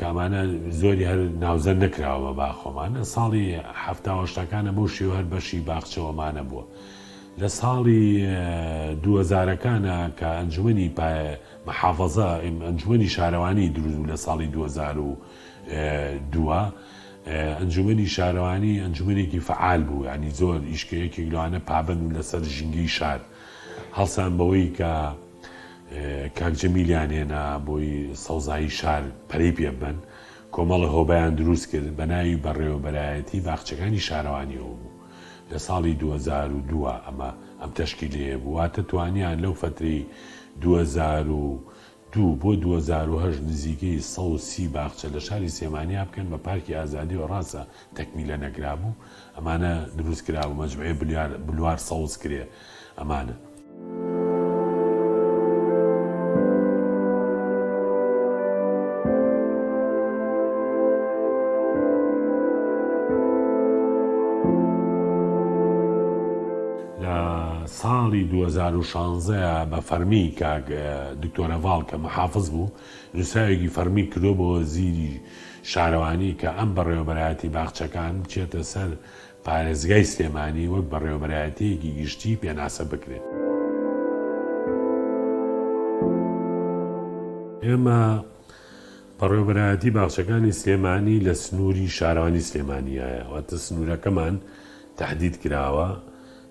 کامانە زۆری هەر ناوزەند نەکراوە بە باخ خۆمان لە ساڵی حەفتا و هەشتاکانە بەو شێوە هەر بەشی باخچەوەمانە بووە لە ساڵی دووەزارەکانە کە ئەنجومنی محافظە ئەنجومنی شارەوانی دروست بوو لە ساڵی 2002 ئەنجومنی شارەوانی ئەنجومنێکی فعال بوو ینی زۆر ئیشکەیەکێک لەوانە پابند لەسەر ژینگەی شار هەڵسان بەوەی کە کاک جەمیلیان هێنا بۆی سەوزایی شار پەرەی پێ ببەن، کۆمەڵە هۆبەیان دروست کرد بە ناوی بەڕێوەبەرایەتی باخچەکانی شارەوانیەوە بوو لە ساڵی دوو هەزار و دوو ئەمە ئەم تەشکیلەیە بوو واتە توانیان لەو فەترەی دوو هەزار و دوو بۆ دوو هەزار و هەشت نزیکەی سەد و سی باخچە لە شاری سێمانیا بکەن بە پارکی ئازادیەوە ڕاستە تەکمیلە نەکرابوو ئەمانە دروست کرابوو مەجموعەی بلیار بلوار سەوز کرێ ئەمانە. لە ساڵی دوو هەزار و شانزە بە فەرمی کاک دکتۆر هەڤاڵ کە محافز بوو نووسراوێکی فەڕمی کردووە بۆ وەزیری شارەوانی کە ئەم بەڕێوەبەرایەتی باخچەکان بچێتە سەر پارێزگای سلێمانی وەک بەڕێوەبەرایەتییەکی گشتی پێناسە بکرێت. ئێمە بەڕێوەبەرایەتی باخچەکانی سلێمانی لە سنووری شارەوانی سلێمانیایە، واتە سنوورەکەمان تەحدید کراوە،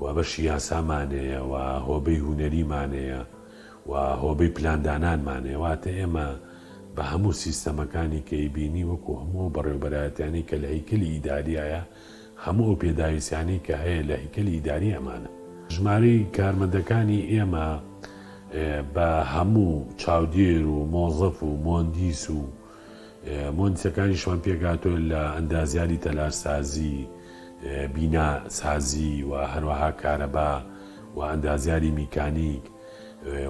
وا بەشی یاسامانەیە، وا هۆبەی هونەریمانەیە، وا هۆبەی پلاندانانمانەیە، واتە ئێمە بە هەموو سیستەمەکانی کە ئیبینی وەکو هەموو ئەو بەڕێوەبەرایەتیانەی کە لە هەیکەلی ئیداریایە، هەموو ئەو پێداویستیانەی کە هەیە لە هەیکەلی ئیداری ئەمانە. ژمارەی کارمەندەکانی ئێمە بە هەموو چاودێر و مۆزەف و مۆندیس و. مۆنتەکانیشمان پێکهاتووە لە ئەندازیاری تەلارسازی، بینا سازی و هەروەها کارەبا و ئەندازیاری میکانیک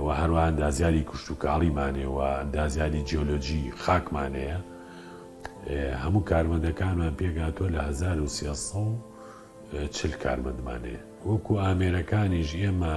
و هەروەها ئەندازیاری کشتوکاڵیمانێ و ئەندازیاری جیۆلۆجی خاکمانەیە. هەموو کارمەندەکانمان پێکهاتووە لە هەزار و سێ سەد و چل کارمەندمانەیە. وەکو ئامێرەکانیش ئێمە